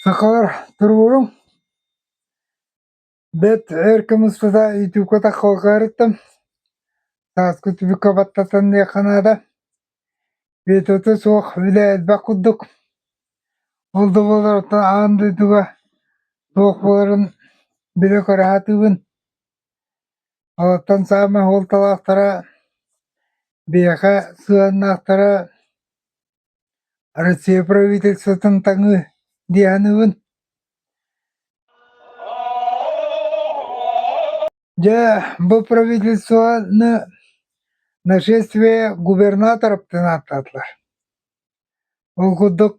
Сахалар туруоруҥ бэт эр кымыспыта ютубка таххалҕаарыттан сааскы түбүккэ баттатан диэххэ наада Биэтөтө суох үлэ элбэх курдук ол да буолар аан дойдуга туох буоларын билэ көрө сатыыбын Олортон саамай уолталаахтара биһиэхэ сыһыаннаахтара Россия правительствотын таҥыы дии саныыбын. Дьэ, бу правительствоны нашествие губернаторов диэн ааттаатылар. Ол курдук,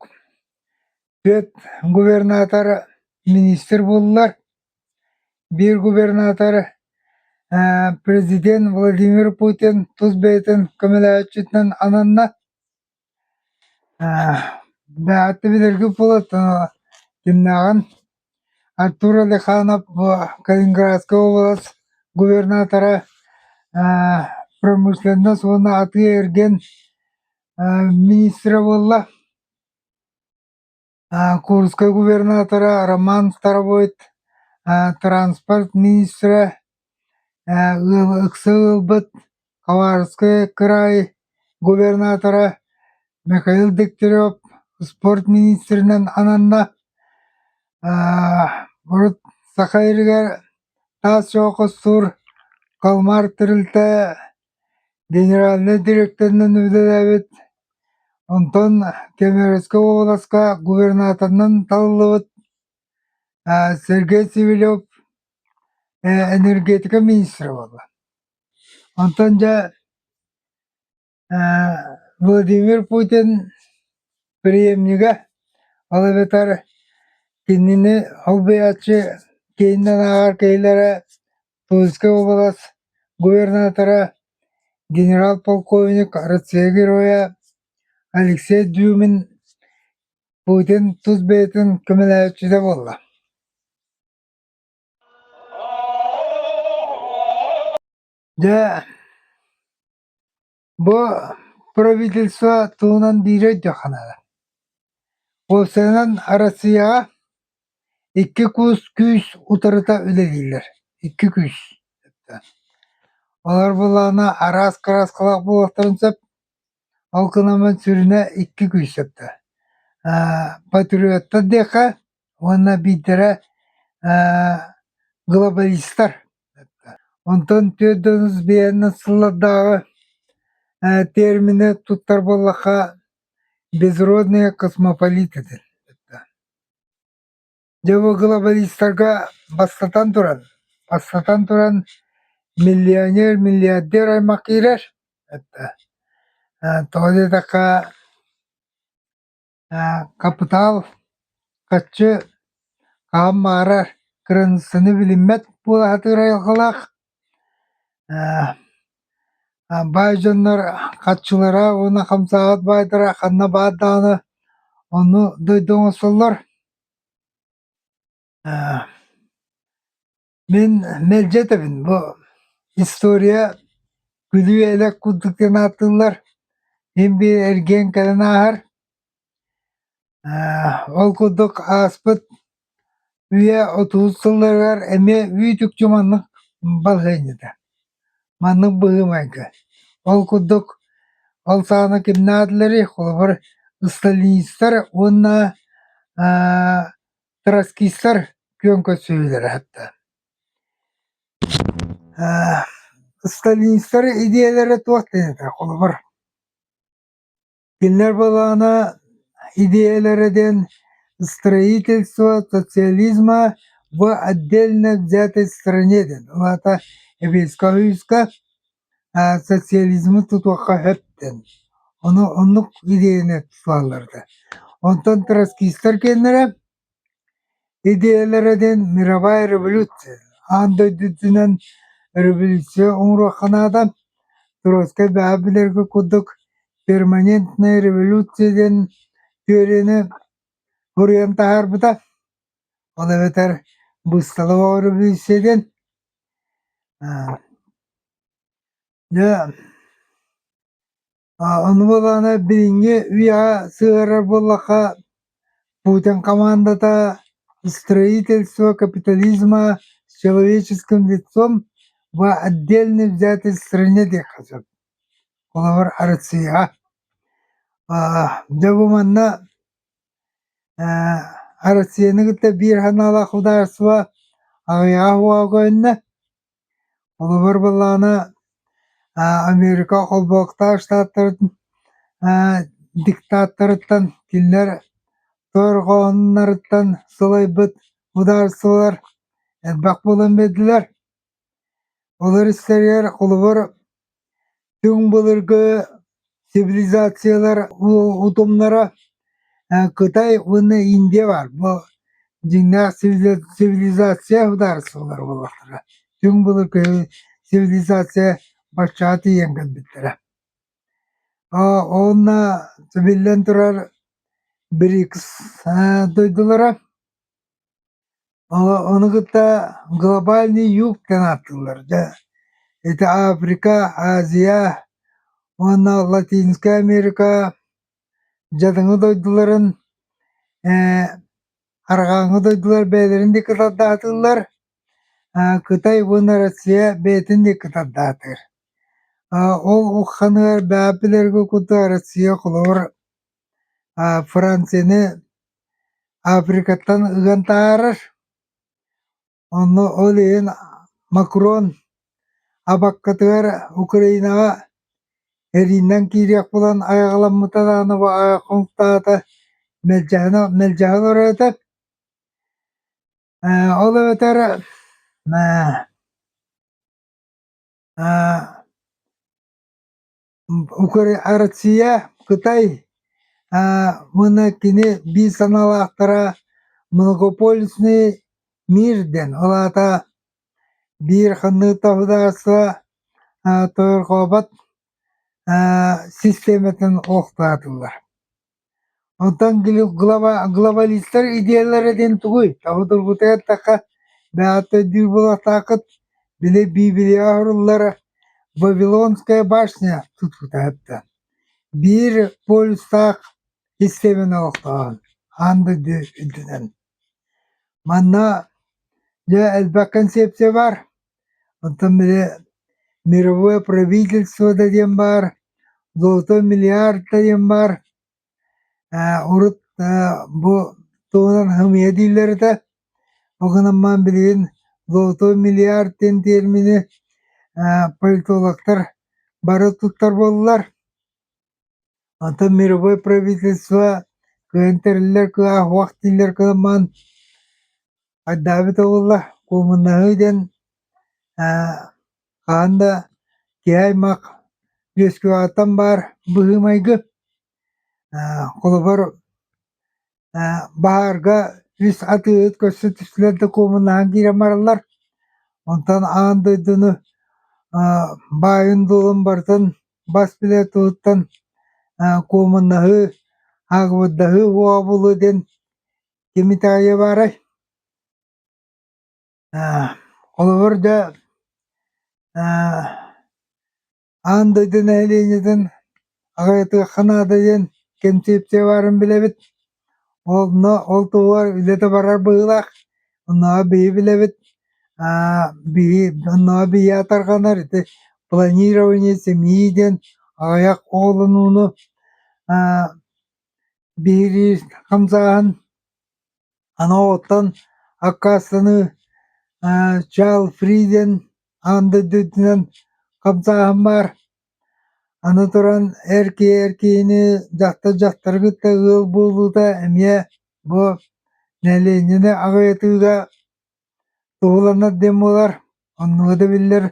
түөрт губернатор министр буоллар, биир губернатор президент Владимир Путин тус бэйэтин көмөлөөччүтүнэн ананна. Бэҕэттэ билэргит буолар, кимнээҕин Артур Алиханов бу Калининградскай уобалас губернатора ээ промышленность уонна атыы-эргин ээ министрэ буолла. Аа Курскай губернатора Роман Старовойт ээ транспорт министрэ ээ ы ыкса ыалбыт Хабаровскай кыраай губернатора Михаил Дегтярев спорт министринэн ананна, урут саха иригэр таас чоҕу хостуур Калмар тэрилтэ генеральнай дириэктэринэн үлэлээбит, онтон Кемеровскай уобаласка губернаторынан талыллыбыт Сергей Сивелев энергетика министрэ буолла. Онтон дьэ ээ Владимир Путин приемнига, ол эбэтэр кинини солбуйааччы киининэн ааҕар киһилэрэ Тульскай уобалас губернатора генерал-полковник Россия Героя Алексей Дюмин Путин тус бэйэтин көмөлөөччүтэ буолла Дьэ, бу правительство туһунан биир өйдүөххэ наада. Уопсайынан Россияҕа икки куус күүс утарыта үлэлииллэр. Икки күүс. Олор былаана араас кырааскалаах буолуохтарын сөп. Ол гынан сүрүнэ икки күүс сөптө. Патриоттар диэххэ, уонна биирдэрэ ээ глобалистар онтон түөрт да отuz биэһинэн сыллардааҕы ээ термини туттар буоллахха безродные космополиты диэн дьэ бу глобалистарга бастатан туран бастатан туран миллионер миллиардер аймах киирэр тоҕо диэтэххэ Хапытаал хаччы хаһан баҕарар кыраныыссаны билиммэт буолаатыыр айылҕалаах. баай дьоннор хаччылара уонна хамсаабат баайдара ханна баар даҕаны ону дойду оҥосоллор. Мин мэлдьи этэбин бу история күлүү-элэк курдук диэн ааттыыллар. Мин-бии эргиэн кэлэн ааһар. Ол курдук ааспыт үйэ отуус сылларыгар эмиэ үүт-үкчү маннык балаһыанньата. Маннык быһыы-майгы. Ол курдук ол саҕана ким наадаларый? Холобур, сталинистар уонна Троцкистар күөн көрсүһүүлэрэ сытта. Э, сталинистар идеялэрэ туох диэҥҥэ холобур? Кинилэр былаана идеялэрэ диэн строительство социализма в отдельно взятой стране диэн. Ол аата Советскай Союзка социализмы тутуохха сөп диэн ону оннук идеяны туттуллалларда онтон троцкистар киэннэрэ идеялара диэн мировая революция аан дойду үрдүнэн революция оҥоруохха наада троцкай бэҕэ билэргэ курдук перманентная революция диэн теорияны буруйан таһаарбыта Ол эбэтэр быыстала революция диэн дьэ ону буолаана билиҥҥи үйэҕэ сыһыарар буоллахха путин командата строительство капитализма с человеческим лицом в отдельный взятый стране диэххэ сөп холобур арыцыйаҕа дьэ бу манна Россияны кытта биир санаалаах судаарыстыба аҕыйаҕа уоҕугунна. Холобур буоллаҕына Америка холбооктаах штаттарын диктаторыттан кинилэр тоорҕооннарыттан сылайбыт судаарыстыбалар элбэх буолан биэрдилэр. Ол эрсэригэр холобур түҥ былыргы цивилизациялар утумнара Кытай уонна Индия баар бу дьиҥнээх цивилизация судаарыстыбалара буолуохтара түҥ былыргы цивилизация баччаҕа тиийэн кэлбиттэрэ онно биллэн турар БРИКС дойдулара Ону кытта глобальный юг диэн ааттыыллар. Дьэ, ити Африка, Азия уонна Латинская Америка дьадаҥы дойдуларын ээ арҕааҥҥы дойдулар бэйэлэрин диэки тардаатыыллар. Кытай уонна Россия бэйэтин диэки тардаатар. Ол ухханыгар бэйэҕэ билэргэ курдук Россия холобур Францияны Африкаттан ыган таһаарар. Онно ол иһин Макрон абаккатыгар Украинаҕа эриинэн киириэх буолан айаҕаламмыта даҕаны бу айа хомуктаата, мэлдьэһэн мэлдьэһэн ороото. Ол эбэтэр Россия, Кытай уонна кини биир санаалаахтара многополюсный мир диэн, ол аата биир ханнык таһыдаарыстыба тойорхообот систиэмэтин олохтоотулар. Оттон глобалистар идеяларытын тугуй, тоҕо тургутуй эттэххэ, бэҕэттэрдиир буолуохтааххыт, били Биибилийэҕэ оһоруллар Вавилонская башня тутуута аһатта. Биир полюстаах кистэмин олохтооһун аан дойду үрдүнэн. Манна дьэ элбэх кэнсиэпсийэ баар. Онтон били мировое правительство да диэн баар, золотой миллиард да диэн баар, ээ урут бу туһунан хымыйа дииллэр этэ, ол гынан баран билигин золотой миллиард диэн термини политологтар бары туттар буоллулар. Онтон мировое правительство кыайан тэриллэр кыаһуох дииллэр кылымман айдаабыт оҕулла куумуннаһыы диэн хаһан да киһи аймах үөскүөҕүттэн баар быһыы-майгы холобур баарга үс атыыһыт көрсө түстүлэр да куомуннаһан киирэн бараллар. Онтон аан дойдуну баайын-дуолун барытын бас билэр туһуттан куомуннаһыы, аагыбырдаһыы, уообулуу диэн кими таайа баарай? Холобур да аан дойду нэһилиэнньэтин аҕайытыахха наада диэн кэнсиэпсийэ баарын билэбит онно ол туһугар үлэтэ барар быһыылаах оннооҕор биһи билэбит биһи оннооҕор биһиэхэ тарҕанар ити планирование семьи диэн аҕыйах оҕолонууну биһирии хамсааһын Аны оттон аккаастаныы ээ чаал фри диэн аан дойду үрдүнэн хамсааһын баар. Аны туран эр киһи эр киһини дьахтар дьахтары кытта ыал буолуута эмиэ бу нэилиэнньэни аҕыйатыыга Туһуланар дьоммулар оннуга да биллэр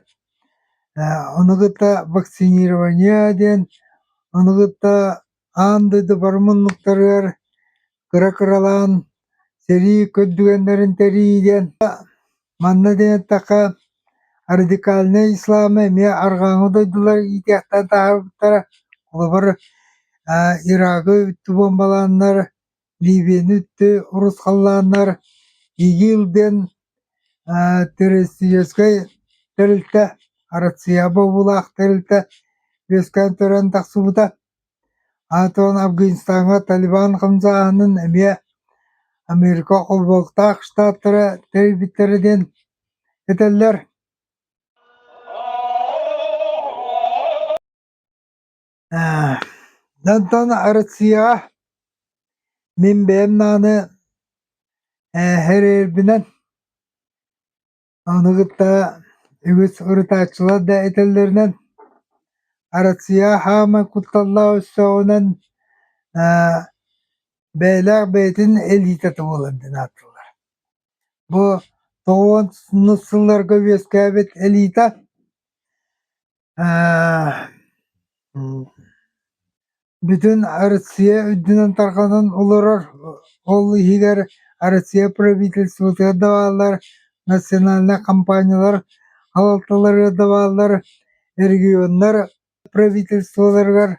ону кытта вакцинирование диэн ону кытта аан дойду бары муннуктарыгар кыра-кыралаан сэрии көрдүгэннэрин тэрии диэн манна диэттэххэ радикальнай ислама эмиэ арҕааҥы дойдулар иитиэхтэн таһаарбыттара холобур Ирагы бүттүү буомбалааннар Ливияны өттө урусхаллааннар ИГИЛ диэн террористическай тэрилтэ, Россия бобуулаах тэрилтэ үөскээн төрөөн тахсыбыта. Аатынан Афганистаҥҥа Талибан хамсааһынын эмиэ Америка Холбоһуктаах Штаттара тэрийбиттэрэ диэн этэллэр. Онтон Россияҕа мин бэйэм даҕаны эһэрээбинэн ону кытта үгүс ырытааччылар да этэллэринэн Россияҕа хаамай кутталлаах өстөөҕүнэн бэйэлээх бэйэтин элитата буолар диэн ааттыыллар. Бу тоҕуонус сылларга үөскээбит элита Бүтүн Арассыыйа үрдүнэн тарҕанан олорор, ол иһигэр Арассыыйа правительствотыгар да бааллар, национальнай компаниялар салалталарыгар да бааллар, регионнар правительстволарыгар,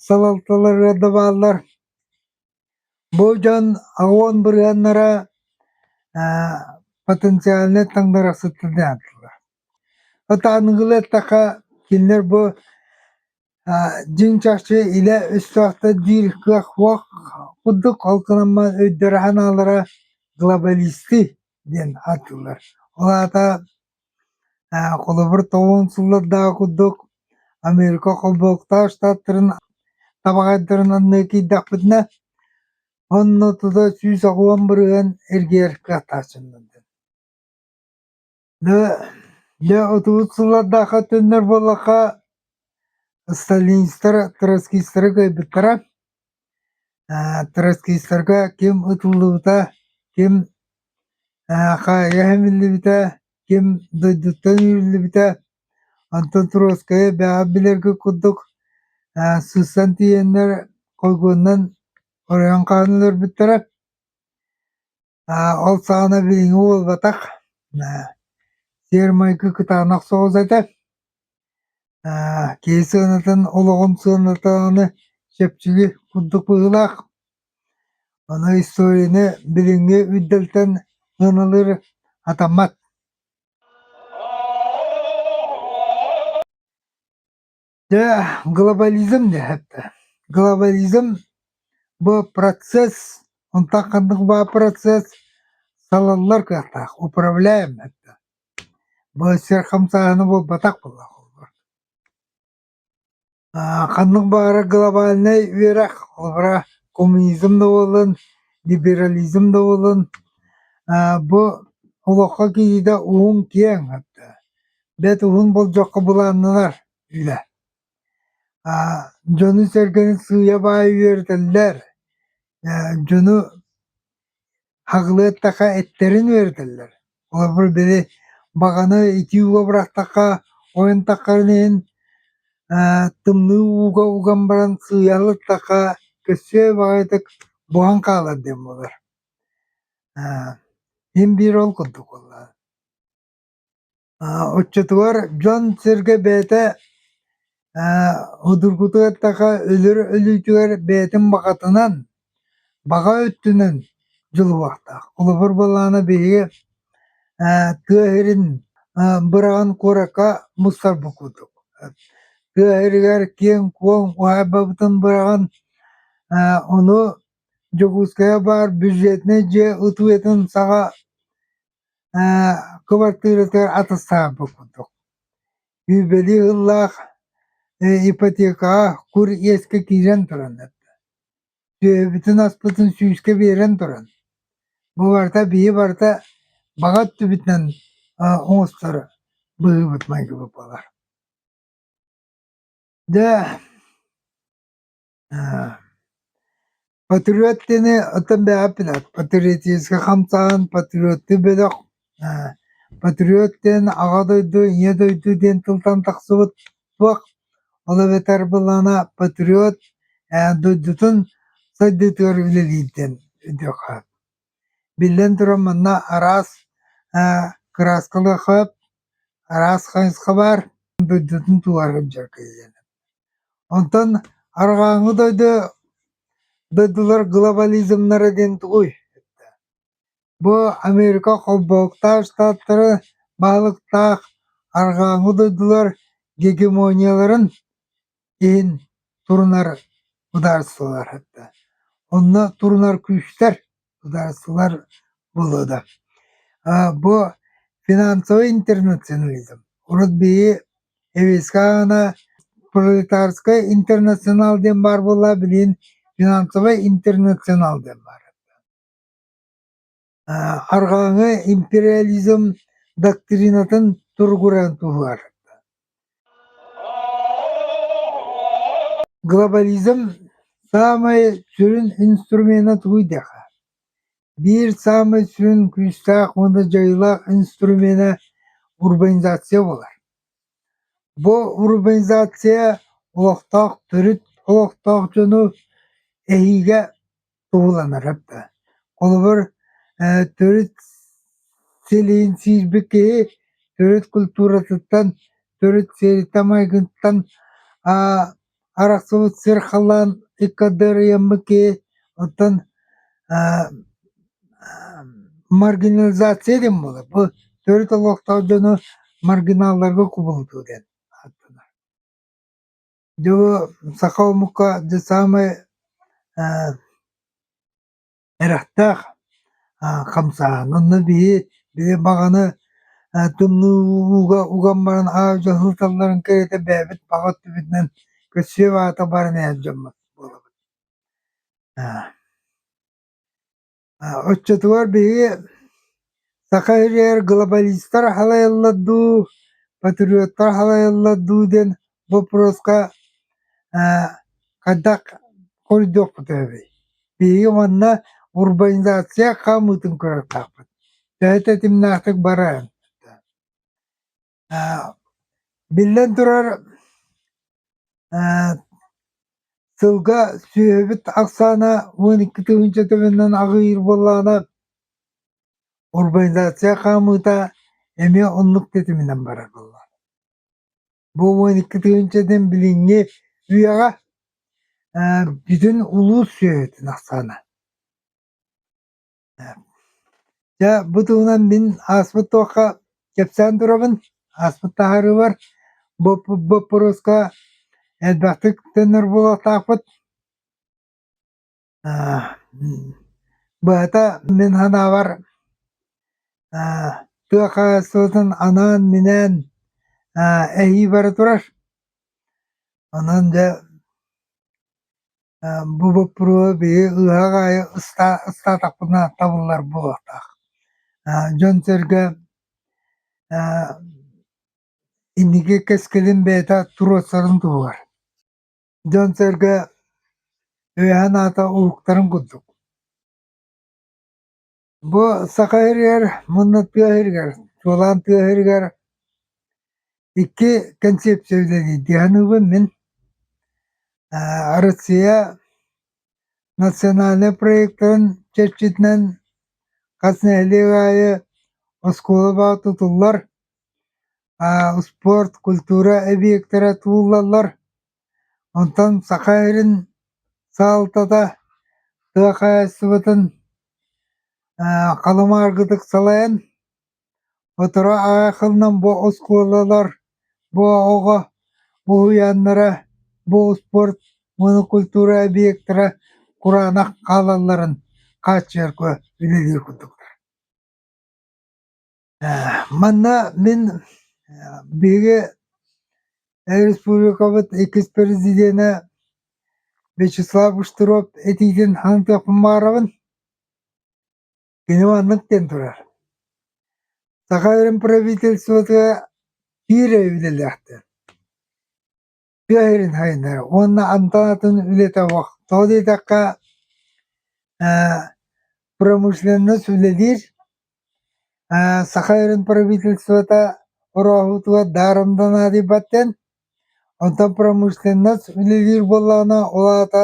салалталарыгар да бааллар. Бу дьон ООН бырыһыаннара потенциальнай таҥнарахсыттар диэхтэлэр. Ытааныгылы эттэххэ, кинилэр бу дьиҥ чахчы илэ өстөөхтөр диир кыах-уох курдук алтынаммат өйдөрө-санаалара глобалисты диэн ааттыыллар. Ол аата Холобур, тоҕуон сыллардааҕы курдук Америка холбоһуктаах штаттарын табаҕайдарын анныы киирдэхпитинэ, онно тута сүүс аҕыйах бырыһыан эргийэргэ атааччыннардын. Дьэ, дьэ отуус сыллардаахха төннөр буоллахха, сталинистар, троцкистары кыайбыттара. Троцкистарга ким ытыллыбыта, ким хайа иһиллибитэ, ким дойдуттан иһиллибитэ, онтон Троцкайы бэҕэ билэргэ курдук сыстан тиийэннэр, койгуоннан оройон хаһан өлөрбүттэрэ. Ол саҕана билиҥҥи буолбатах, сиэр-майгы кытаанах соҕус этэ. киһи сыанатын, олоҕун сыанатаҕына чэпчэки курдук быһыылаах. Аны историяны билиҥҥи үрдэлтэн сыаналыыр атаммат. Дьэ, глобализм диэхэтэ. Глобализм бу процесс, онтон ханнык баар процесс салаллар кыахтаах, управляем этэ. Бу сир хамсааһына буолбатах буоллаах олбур. Аа, ханнык баара глобальнай үөрэх, олбура коммунизм да буоллун, либерализм да буоллун, аа, бу олоххо киириитэ уһун киэҥ этэ. бэрт уһун болдьоххо былааннанар үлэ дьону-сэргэни сыыйа-баайа үөрэтэллэр дьону хаҕылыаттаха эттэрин үөрэтэллэр олорбор били баҕаны итии ууга бырахтахха ойунтаххарын иһин тымныы ууга уган баран сыыйа алыттахха көрсүө баҕайытык буһан хаалар диэн буолар мин биир ол курдук буолла Оччотугар дьон-сэргэ бэйэтэ судургутук өлөр өлүүтүгэр бэйэтин баҕатынан, баҕа өттүнэн дьулуһуохтаах. Холобур буоллаҕына биһиги тыа сирин быраҕан куоракка мустарбыт курдук. Тыа сиригэр киэҥ-куоҥ уһаайбабытын быраҕан ону Дьокуускайга баар бюджетнай дьиэ тутуутун саҕа кыбартыыратыгар атастаан турбутум. Үүбэлии ыһыллаах ипотекаҕа кур иэскэ киирэн туран эрдэ. Сүөһүбүтүн аспытын сүүскэ биэрэн туран, бу барыта биһи барыта баҕа өттүбүтүнэн оҥосторо быһыыбыт майгыбыт буолар. Дьэ, Патриоттыыны оттон бэҕэппин патриотическай хамсаан патриоттуу бөлөх патриот диэн аҕа дойду ийэ дойду диэн тылтан тахсыбыт туох ол эбэтэр былаана патриот дойдутун сайдыытыгар үлэлиир диэн өтүөххэ Биллэн турар, манна араас ээ кырааскалар хап, араас хайысха баар, дойдутун тулаары сылдьар киһилэнэ. Онтон арҕааҥҥы дойду дойдулар глобализмнара диэн тугуй? Бу Америка холбоһуктаах штаттары баһылыктаах арҕааҥҥы дойдулар гегемонияларын иһин турунар судаарыстыбалар да онно турунар күүстэр судаарыстыбалар буолуо да бу финансовый интернационализм урут биһи эвескаана пролетарскай интернационал диэн баар буолла билигин финансовай интернационал диэн баар Арҕааҥы империализм доктринатын туругуран туһугар глобализм саамай сүрүн инструмена тугуй диэххэ биир саамай сүрүн күүстээх уонна дьайыылаах инструмена урбанизация буолар бу урбанизация олохтоох төрүт олохтоох дьону эһиигэ Сууланарар да. Холобур, ээ, төрүт силин сиирбит киһи төрүт культуратыттан, төрүт сири-тамайгыттан аа арахсыбыт сир халаан икка дарыйаммыт киһи, оттон аа маргинализация диэн буолар. Бу төрүт олохтоох дьону маргиналларга кубулутуу диэн ааттанар. Дьэ саха омука дьэ саамай ээ эрэхтээх аа хамсааһын. Онно биһи биһи баҕаны ээ тымныыга уган баран аа-дьуо сылдьалларын кэриэтэ бэйэбит баҕа өттүбүтүнэн көрсүө аата баран ээ дьоммут буолабыт. Аа Оччотугар биһиги Саха сиригэр глобалистар халайаллар дуу, патриоттар халайаллар дуу диэн боппуруоска хайдах хоруйдуохпутуй эбий? Биһиги манна урбанизация хаамыытын көрөртөхпүт. Төһө тэтимнээхтик барарын. Биллэн турар, сылга сүөһүбүт ахсаана уон икки тыһыынча төбөннөн аҕыйыыр буоллаҕына, урбанизация хаамыыта эмиэ оннук тэтиминэн барар буоллаҕына. Бу уон икки тыһыынчанан билиҥҥи үйэҕэ бүтүн улуус сүөһүтүн ахсаана. Дьэ, бу туһунан мин ааспыт туохха кэпсээн турабын, ааспыт таһаарыыбар боппуруоска элбэхтик төннөр буолуохтаахпыт. Быһата мин санаабар тыа хаһаайыстыбатын анаан-минээн эһии бара турар. Онон дьэ Бу боппуруоһу биһи ыһыах аайы ыстаатахпына табыллар буолуохтаах. Дьон-сэргэ инники кэскилин бэйэтэ туруорсарын туһугар. Дьон-сэргэ өйөһөн аата уһуктарын курдук. Бу Саха сиригэр мунна тыа сиригэр, чуолаан тыа сиригэр икки кэнсиэпсийэ үлэлиирдиэханыбын мин. Арассыыйа национальнай проектын чэрчитинэн хас нэһилиэк аайы оскуола баҕа тутуллар, спорт, культура эбийиэктэрэ тутуллаллар. Онтон Саха сирин салалтата тыа хаһаайыстыбатын халымааргытык салайан, сотору аҕай хылынан бу оскуолалар бу оҕо уһуйааннара, бу успуорт монокультура объектара кураанах хаалалларын хааччыйарга үлэлиир курдуктар Манна мин биһиги республикабыт иккис президенэ Вячеслав Кушниров этиитин аныктыахпын баҕарабын. Кини маннык диэн турар. Саха Өрүм правительствотыгар киирэ үлэлээхтэр. Тыа сирин сайыннарыы уонна амтанатын үлэтэ тоҕо диэтэххэ ээ промышленность үлэлиир аа саха сирин правительствота ороһутугар даарымданаат ийбаттэн онтон промышленность үлэлиир буоллаҕына ол аата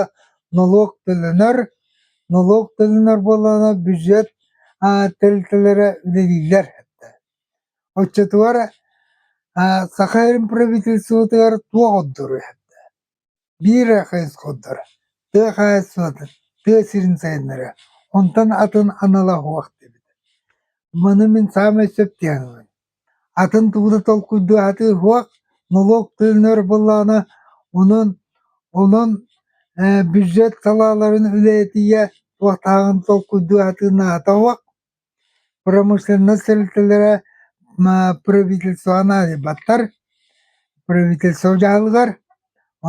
нолуок төлөнөр нолуок төлөнөр буоллаҕына бюджет аа тэрилтэлэрэ үлэлииллэр Оччотугар Саха Сирин правительствотыгар туох ордору иһэрдэ? Биир эрэ хайысхаордор тыа хаһаайыстыбатын, тыа сирин сайыннарыа, онтон атын анала суох диэбит. Маны мин саамай сөп диэн ылыым. Атын тугу да толкуйдуһаатыы суох, нолуок тыынар буоллаҕына, онон онон бюджет салааларын үлэһитийэ туохтааҕын толкуйдуһаатыы наада суох. Промышленнас тэрилтэлэрэ правительствоҕа наадыйбаттар, правительство дьаһалыгар.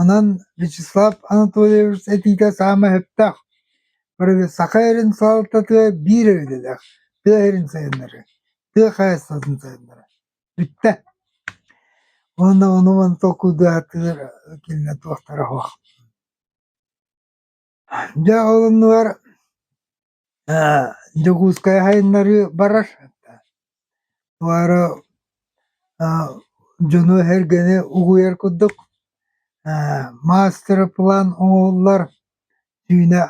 Онон Вячеслав Анатольевич этиитэ саамай сөптөөх. Саха эрин салалтатыгар биир идэлээх, тыа сирин сайыннарыы, тыа хаһаайыстыбатын сайыннарыы. Бүттэ. Уонна ону-маны толкуйдаатылар кинилэр туохтара суох. Дьэ ол оннугар ээ Дьокуускайга сайыннарыы барар. Туоара аа дьону-сэргэни угуйар курдук ээ маастар-план оҥоһуллар. Түүнэ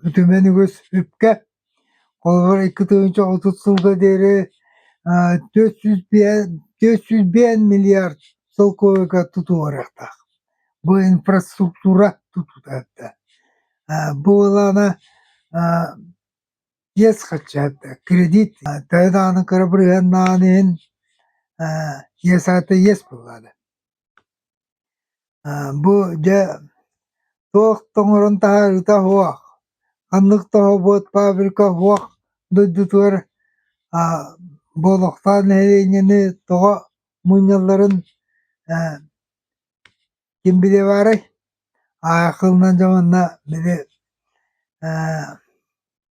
үтүмэн үгүс үпкэ. Холобур, икки тыһыынча отут сылга диэри төрт сүүс биэс төрт сүүс биэс миллиард солкуобайга тутуһуохтаах. Бу инфраструктура тутутарда. Бу буолаана диэс хаччаатта кредит тайдааны кырабырыһаннаан иһин иэсаата иэс буллаада Бу дьэ туох да оҥорон таһаарыыта суох, ханнык да оһобуот фабрика суох дойдутугар Болохтоон нэһилиэнньэни тоҕо мунньалларын ким билиэбаарай? Аахылынан дьэ манна били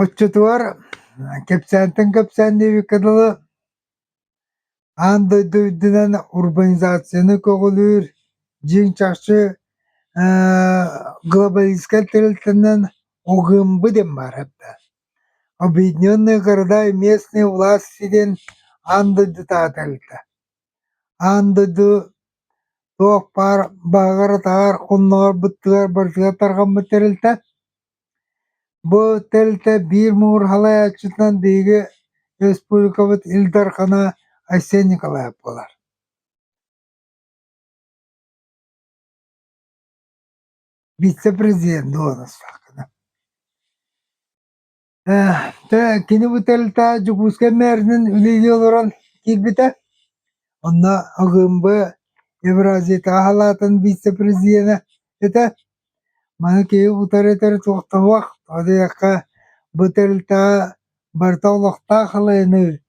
Оччотугар кэпсээнтэн кэпсээн диэбиккэ дылы аан дойду үрдүнэн урбанизацияны көҕүлүүр дьиҥ чахчы глобалистскай тэрилтэнэн угумбу диэн баарарда. Объединенные города и местные власти диэн аан дойду таатарыта. Аан дойду туох баар баҕарытаҕар оннооҕор быттыгар барытыгар тарҕаммыт тэрилтэ. Бу тэрилтэ биир муҥурҕалааччытынан биһиги республикабыт Ил Дархана Айсен Николаев буолар. Вице-президент буолан астааххына. Дьэ кини бу тэрилтэ Дьокуускай мээринэн үлэлии олорон киирбитэ. Онно АГМБ Евразията аһылаатын вице-президенэ этэ. Маны киһи утары этэр туохтабах, одайахха бу тэрилтэҕэ барыта олохтоох халайыныы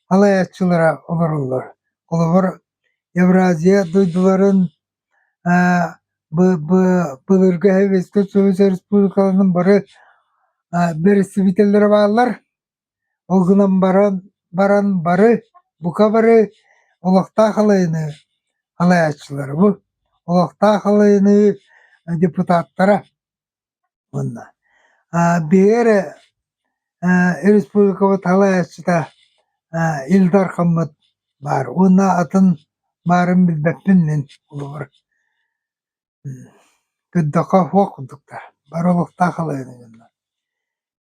халайааччылара олороллор. Холобур, Евразия дойдуларын республикаларын бары бэрэстэбиитэллэрэ бааллар. Ол гынан баран баран бары бука бары олохтоох алайыны салайааччылары бу олохтоох алайыныы депутаттара уонна биһиги эрэ республикабыт салайааччыта Ил Дархаммыт баар уонна атын баарын билбэппин мин холобур көрдөххө уох курдуктар бары олохтоох халааны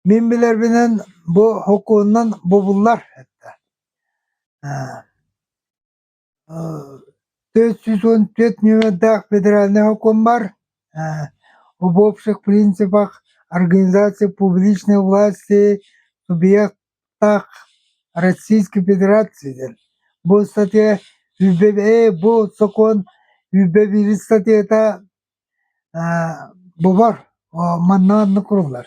мин билэрбинэн бу сокуонунан бобуллар Тыйыс сүүс уон түөрт нүөмэрдээх федеральнай сокуоммар убопшек в принципах организации публичной власти субъектах Российской Федерации диэн. Бу статья бу сокуон биир статьята бобор манна маннык куруллар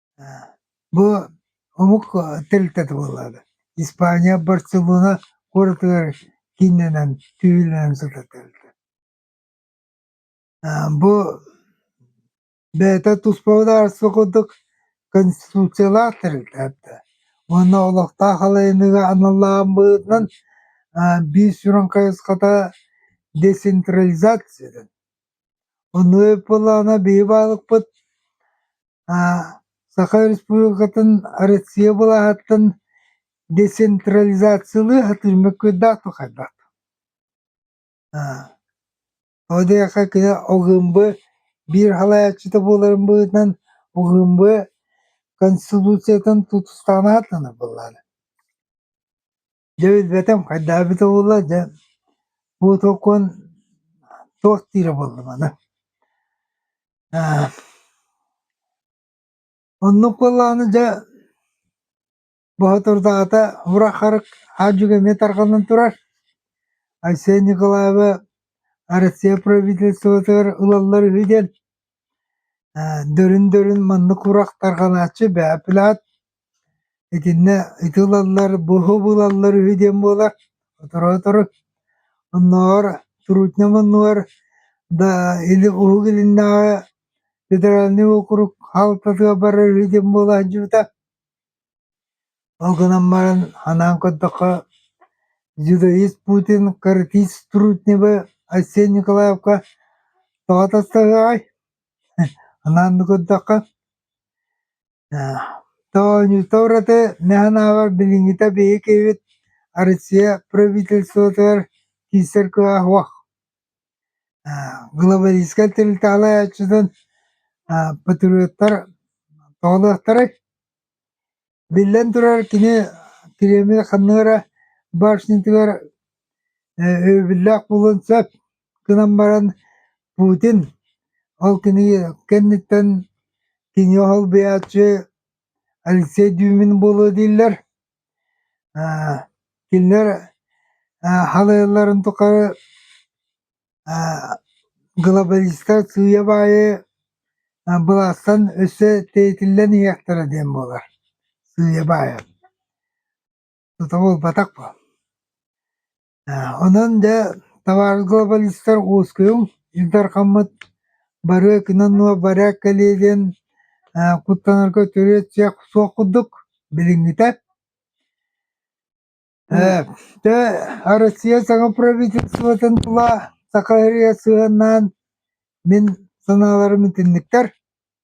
Бу омук тэрилтэтэ буоллаҕа. Испания, Барселона куоратыгар кииннэнэн, түһүүлэнэн сытар тэрилтэ. Бу бэйэтэ туспа судаарыстыба курдук конституциялаах тэрилтэ эбитэ. Уонна олохтоох халайыныыга аналлаабытынан биир сүрүн хайысхата децентрализация Онуй Пылана быыбарыкпыт Саха Республикатын Россия былааһыттан децентрализациялыы сатыыр мөккүөрдээх да хайдах Ол диэххэ кини ОГМБ биир салайааччыта буоларын быһыытынан ОГМБ Конституциятын тутустаан ааттанар буоллаҕа Дьэ билбэтим, хайдаабыт уолла, дьэ бу толкуон туох диирэ буоллум аны. Аа, оннук буоллаҕына дьэ Боотурдаата Врахарык аадьыга эмиэ тарҕанан турар. Айсен Николаева Россия правительствотыгар ылаллар үһү диэн. Аа, дөрүн-дөрүн маннык урах тарҕанааччы бэһэ плаат Итиннэ ити ылаллар, буһу булаллар үһү диэн буолар, сотору-сотору оннооҕор Трутня манньыгар да или Уһук Илиннээҕи федеральнай уокурук хаалтатыгар барар үһү диэн буола сылдьыбыта. Ол гынан баран санаан көрдөххө дзюдо ист Путин, картиз Трутневы, Айсен Николаевка тоҕо тастаһыаҕай? Санаан да көрдөххө Тоонньута ураты не санаабар билиҥҥитэ биһиги киһибит Россия правительствотыгар киирсэр кылааһуах глобалистскай тэрилтэҕэ айааччытын патриоттар тоҕулуохтарай? Биллэн турар, кини Кириэми ханна эрэ башнятыгар Өйөбүллээх буолуон сөп гынан баран Путин ол кини кэнниттэн кинигэ солбуйааччы Алексей Дюмин буолуо дииллэр. Кинилэр халыйалларын тухары глобалистар сыыйа баайы былаастан өссө тиэйтиллэн иһиэхтэрэ диэн буолар. Сыыйа баайа. Тутуу ылбатах буол. Ээ онон дьэ табаар глобалистар уоскуйуҥ, Ил Дархаммыт барыа кынан-нуо барыак кэлиэ диэн ээ куттанарга түрүөт суох курдук билиҥҥитэ. Ээ дьэ Россия саҥа правительствотын тула Саха ырыа сыһыаннаан мин санааларым итинниктэр.